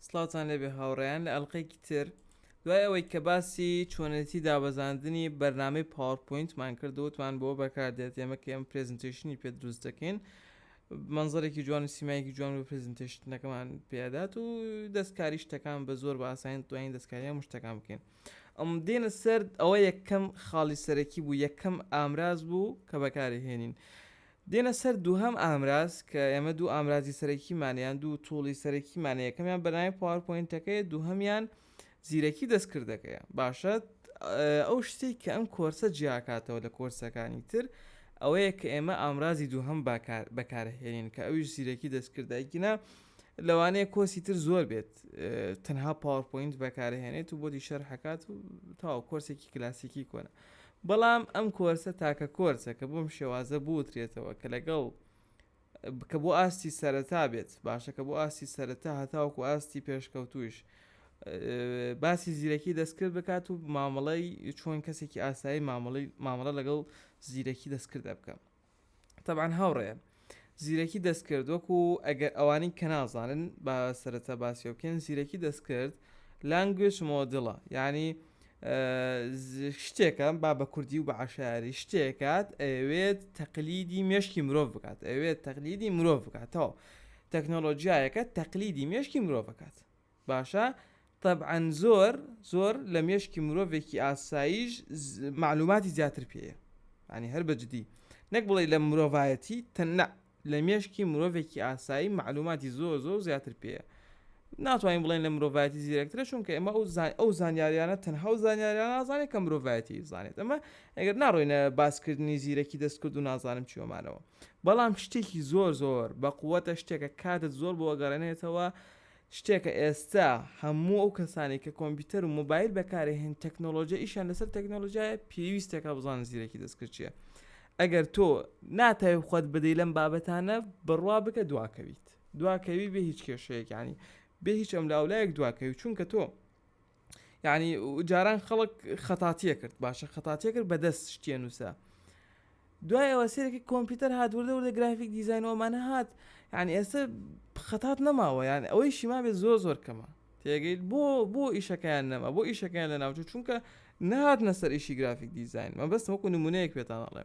سڵاوتان لێبێ هاوڕێیان لە ئەلقەیەکی تر دوای ئەوەی کە باسی چۆنێتی دابەزاندنی بەرنامەی پاوەپوینتمان کرد وتمان بۆ بەکاردێت ئێمە کە ئێمە پرێزنتێشنی پێ دروست دەکەین منزەرێکی جوان و سیمایەکی جوان و پرزنتێشتنەکەمان پێدات و دەستکاری شتەکان بە زۆر بە ئاساین توانین دەستکاریە مشتەکان بکەین ئەم دێنە سرد ئەوە یەکەم خاڵی سەرەکی بوو یەکەم ئامراز بوو کە بەکاری هێنین دێنە سەر دووهەم ئامراز کە ئێمە دوو ئامرازی سەرەکیمان یان دوو توڵی سەرەکیمان یەکەمیان بەناوی پاوەرپۆینتەکەیە دووهەمیان زیرەکی دەستکردەکەیە باشە ئەو شتێک کە ئەم کۆرسە جیاکاتەوە لە کۆرسەکانی تر ئەوەیە کە ئێمە ئامرازی دووهەم بەکارهێنین کە ئەویش زیرەکی دەستکردایگینا لەوانەیە کۆسی تر زۆر بێت تەنها پاوەپۆینت بەکارهێنێت و بۆ دیشەر حکات و تاو کۆرسێکی کلاسیکی کۆنە بەڵام ئەم کۆرسە تاکە کۆرسە کە بەم شێوازە بوترێتەوە کە لەگەڵ کە بۆ ئاستی سەرەتا بێت باشە کە بۆ ئاستی سەرەتا هەتاوەکو ئاستی پێشکەوتووش باسی زیرەکی دەستکرد بکات و مامەڵەی چۆن کەسێکی ئاسایی مامەڵی مامەڵە لەگەڵ زیرەکی دەستکرد بکەم تەبعەن هاوڕێیان زیرەکی دەستکرد وەکو ئەگەر ئەوانی کە نازانن با سەرەتا باسی بکەین زیرەکی دەستکرد لانگوێج مۆدڵە یعنی شتێکم با بە کوردی و بە عشاری شتێکات ئەوێت تەقلیدی مێشکی مرۆڤ بکات ئەوێت تەقلیدی مرۆڤ بکاتەوە تەکنۆلۆژیایەکە تەقلیدی مێشکی مرۆڤ بکات باشە تەبعەن زۆر زۆر لە مێشکی مرۆڤێکی ئاساییش مەعلوماتی زیاتر پێیە یانی هەر بە جدی نەک بڵێی لە مرۆڤایەتی تەن نە لە مێشکی مرۆڤێکی ئاسایی مەعلوماتی زۆر زۆر زیاتر پێیە ناتوانین بڵێن لە مرۆڤایەتی زیرەکترە چونکە ئێمە ئەو زان ئەو زانیاریانە تەنها و زانیاریان نازانێت کە مرۆڤایەتی زانێت ئەمە ئەگەر ناڕۆینە باسکردنی زیرەکی دەستکرد و نازانم چیۆمانەوە بەڵام شتێکی زۆر زۆر بە قووەتە شتێکە کاتت زۆر بۆ گەڕێنێتەوە شتێکە ئێستا هەموو ئەو کەسانەی کە کۆمپیوتەر و مۆبایل بەکارەهێن تەکنۆلۆجیا ئیشیان لەسەر تەکنۆلۆجیایە پێویستەکە بزانن زیرەکی دەستکرد چییە ئەگەر تۆ ناتاوی خۆت بدەی لەم بابەتانە بڕوا بکە دواکەویت دواکەوی بێ هیچ کێشەیەکانی بێ هیچ ئەم لاولایەک دواکەوی چونکە تۆ یانی جاران خەڵک خەتاتیە کرد باشە خەتاتیە کرد بەدەست شتێ نووسە دوای ئەوە سێرەکە کۆمپیوتەر هات وردە وردە گرافیک دیزانەوەمانە هات یعنی ئێستا خەتات نەماوە یان ئەوەی شیما بێت زۆر زۆر کەمە تێگەیت بۆ بۆ ئیشەکەیان نەما بۆ ئیشەکەیان لە ناوچوو چونکە نهاتنە سەر ئیشی گرافیک دیزین مە بەستەوەکو نمونەیەک پێتانەڵێ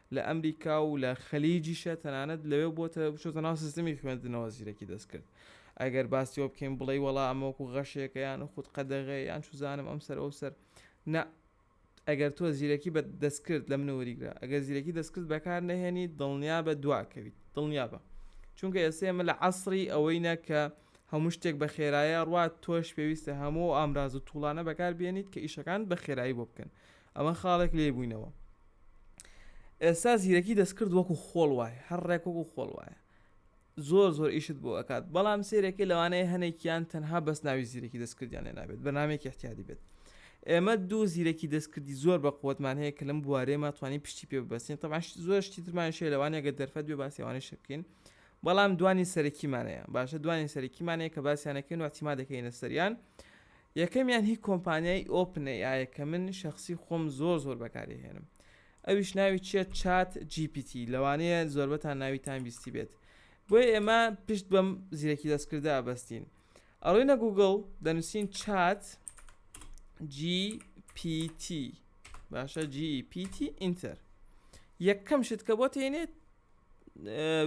لە ئەمریکا و لە خەلیجیشە تەنانەت لەوێ بۆتە بچۆتە ناو سیستمی خوێندنەوە زیرەکی دەستکرد ئەگەر باسیەوە بکەین بڵێ وەڵا ئەمەوەکو غەشێکە یان خود قەدەغێ یان چوزانم ئەم سەر ئەو سەر نا ئەگەر تۆ زیرەکی بە دەستکرد لە منەوەریگرە ئەگەر زیرەکی دەستکرد بەکار نەهێنی دڵنیا بە دواکەویت دڵنیا بە چونکە ئێستا ئمە لە عسری ئەوەی نەکە هەموو شتێک بە خێرایە ڕات تۆش پێویستە هەموو ئامراز و توڵانە بەکار بێنیت کە ئیشەکان بە خێرایی بۆ بکەن ئەمە خاڵێک لێی بووینەوە. ئێستا زیرەکی دەستکرد وەکو خۆڵ وایە هەر ڕێک وەکو خۆڵ وایە زۆر زۆر ئیشت بۆ ئەکات بەڵام سێرەکەی لەوانەیە هەنێکیان تەنها بەس ناوی زیرەکی دەستکردیان لێ نابێت بەنامێکی احتیادی بێت ئێمە دوو زیرەکی دەستکردی زۆر بە قوتمان هەیە کە لەم بوارێمە توانی پشتی پێ ببەستین تەباش زۆر شتی ترمان شێ لەوانەگە دەرفەت بێ باسیوانە شکین بەڵام دوانی سەرەکیمانەیە باشە دوانی سەرەکیمانەیە کە باسییانەکەین و احتیما دەکەینە سەریان یەکەمیان هی کۆمپانیای ئۆپن ئەی ئایە کە من شەخسی خۆم زۆر زۆر بەکاری ئەهێنم ئەویش ناوی چیە چات جی پی تی لەوانەیە زۆربەتان ناویتان بیستی بێت بۆیە ئێمە پشت بەم زیرەکی دەستکردە ئەبەستین ئەڕۆینە گوگڵ دەنووسین چات جی پی تی باشە جی پی تی ئینتەر یەکەم شت کە بۆ تێنێت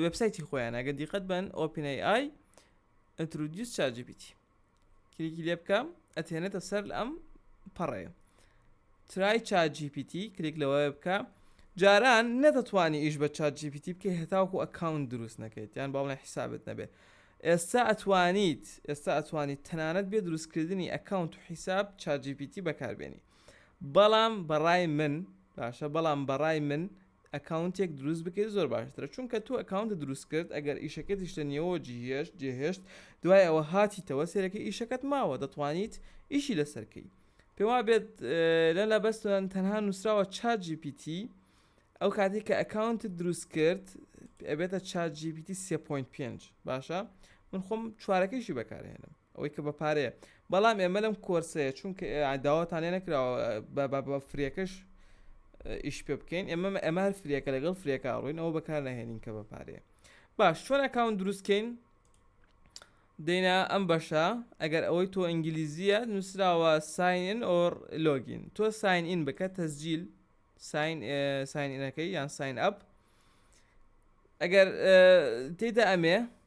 وبسایتی خۆیان ئەگە دیقەت بن ئۆپینەی ئای ئەترودیوس چاجیبیتی کلیکی لێ بکە ئەتێنێتە سەر لە ئەم پەڕێ ترای چا جیپیتی کلیک لەوە بکە جاران نەدەتوانی ئیش بە چا جیپیتی بکە هێتاوکو ئەکاونت دروست نەکەیت یان باڵێ حیسابت نەبێ ئێستا ئەتوانیت ئێستا ئەتوانیت تەنانەت بێ دروستکردنی ئەکاونت و حیساب چا جیپیتی بەکاربێنی بەڵام بەڕای من باشە بەڵام بەڕای من ئەکاونتێک دروست بکەیت زۆر باشترە چونکە تۆ ئەکاونتە دروست کرد ئەگەر ئیشەکەت یشتە نیەوە جیهێشت جێهێشت دوای ئەوە هاتیتەوە سێرەکە ئیشەکەت ماوە دەتوانیت ئیشی لەسەرکەی پێوا بێت لە لە بەستوان تەنها نووسراوە چات GPT ئەو کاتێک کە ئەکاونت دروست کرد ئەبێتە چات GPT 3.5 باشە من خۆم چوارەکەیشی بەکارهێنم ئەوەی کە بە پارەیە بەڵام ئێمە لەم کۆرسەیە چونکە داواتان لێ نەکراوە بە فرێکەش ئیش پێ بکەین ئێمە ئەمە هەر فرێکە لەگەڵ فرێکە ڕوین ئەوە بەکار نەهێنین کە بە پارەیە باش چۆن ئەکاون دروستکەین دینا ئەم بەشە ئەگەر ئەوەی تۆ ئینگلیزیە نووسراوە ساین ئۆر لۆگین تۆ ساین ئین بکە تەزجیل ساین ساینەکەی یان ساین ئەپ ئەگەر تێدا ئەمێ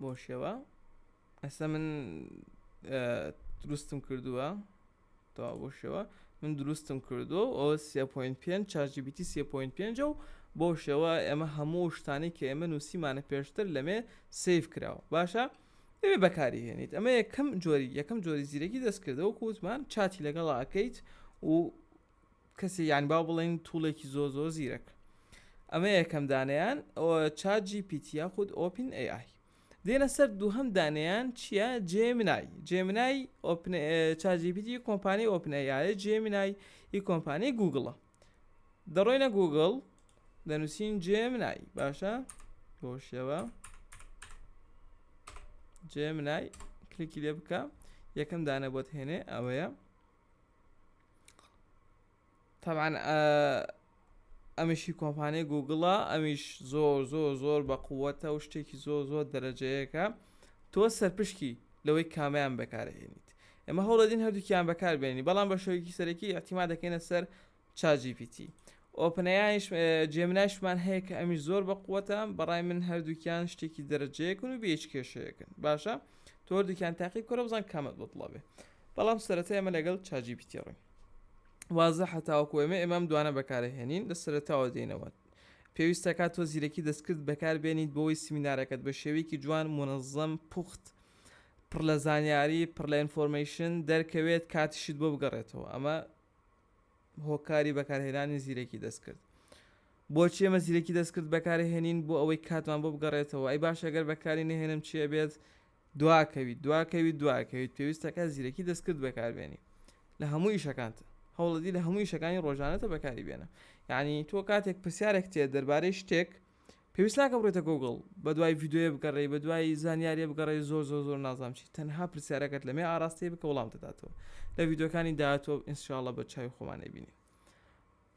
بۆ شێوە ئەسە من دروستم کردووە تا بۆ شێوە من دروستم کردو ئەو 3.5 چارجیبیتی 3.5 و بۆ شێوە ئێمە هەموو شتانی کە ئێمە نووسیمانە پێشتر لەمێ سیف کراوە باشە ئێمە بەکاری هێنیت ئەمە یەکەم جۆری یەکەم جۆری زیرەکی دەستکردەوە کووتمان چاتی لەگەڵاکەیت و کەسی یان با بڵێین توڵێکی زۆر زۆر زیرەک ئەمە یەکەم دانیان چات جی پیت یاخود ئۆپین ئەی ئای دێنە سەر دووهەم دانیان چییە جێمنای جێمنای چاجیبیتی کۆمپانی ئۆپنەیە جێمنای ئی کۆمپانی گوگڵە دەڕۆینە گوگڵ دەنووسین جێمنای باشە بۆ شێوە جێمنای کلیکی لێ بکە یەکەم دانە بۆت هێنێ ئەوەیە تەبعەن ئەمیشی کۆمپانیای گوگڵە ئەمیش زۆر زۆر زۆر بە قووەتە و شتێکی زۆر زۆر دەرەجەیەکە تۆ سەرپشکی لەوەی کامیان بەکارهێنیت ئەمە هەوڵەدین هەردووکیان بەکاربێنی بەڵام بە شێوەیەکی سەرەکی ئەتیما دەکەینە سەر چات جی پی تی ئۆپنەیایش جێمنایشمان هەیە کە ئەمیش زۆر بە قووەتە بەڕای من هەردووکیان شتێکی دەرەجەیەکن و بێچ کێشەیەکن باشە تۆ هەردووکیان تاقی بکەرە بزان کامت بەدڵە بێ بەڵام سەرەتا ئێمە لەگەڵ چات جی پی تی ڕوین وازە هەتاوەکو ئێمە ئێمەم دوانە بەکارهێنین لە سەرتاوە دێنەوە پێویستە کات تۆ زیرەکی دەستکرد بەکاربێنیت بۆی سمینارەکەت بە شێوەیەکی جوان منەظەم پوخت پڕ لە زانیاری پڕ لە ئینفۆرمەیشن دەرکەوێت کاتیشت بۆ بگەڕێتەوە ئەمە هۆکاری بەکارهێنانی زیرەکی دەستکرد. بۆچی ئێمە زیرەکی دەستکرد بەکارهێنین بۆ ئەوەی کاتمان بۆ بگەڕێتەوە ئەی باشە گەر بەکاری نەهێنم چی ئەبێت دواکەویت دواکەویت دواکەویت پێویستەکە زیرەکی دەستکرد بەکاربێنی لە هەموو ئیشەکانت هەوڵەدی لە هەموو ئیشەکانی ڕۆژانەتە بەکاری بێنە یعنی تۆ کاتێک پرسیارێک تێ دەربارەی شتێک پێویست ناکە بڕۆیتە گوگڵ بەدوای ڤیدۆیە بگەڕێی بە دوای زانیاریە بگەڕێ زۆر زۆر زۆر نازام چی تەنها پرسیارەکەت لەمێ ئاراستەی بکە وڵام دەداتەوە لە ڤیددیوکانی داهاتوە ئینسشاالله بە چاوی خۆمانەی بینی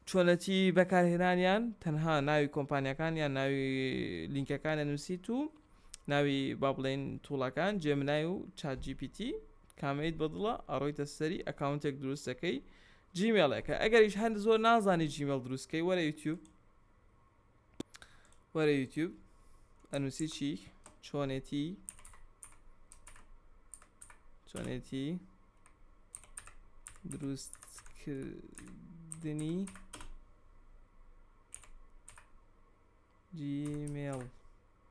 چۆنەتی بەکارهێنانیان تەنها ناوی کۆمپانیەکان یان ناوی لینکەکانە نووسیت و ناوی با بڵێن توڵەکان جێمنای و چاجیPT کامەیت بەدڵە ئەڕۆیتە سەری ئەکاونتێک دروستەکەی جیمێڵێکە ئەگەریش هەند زۆر نازانی جیمێڵ دروستکەی وەرە یوتیوب وەرە یوتیوب ئەنووسی چی چۆنێتی چۆنێتی دروستکردنی جیمێڵ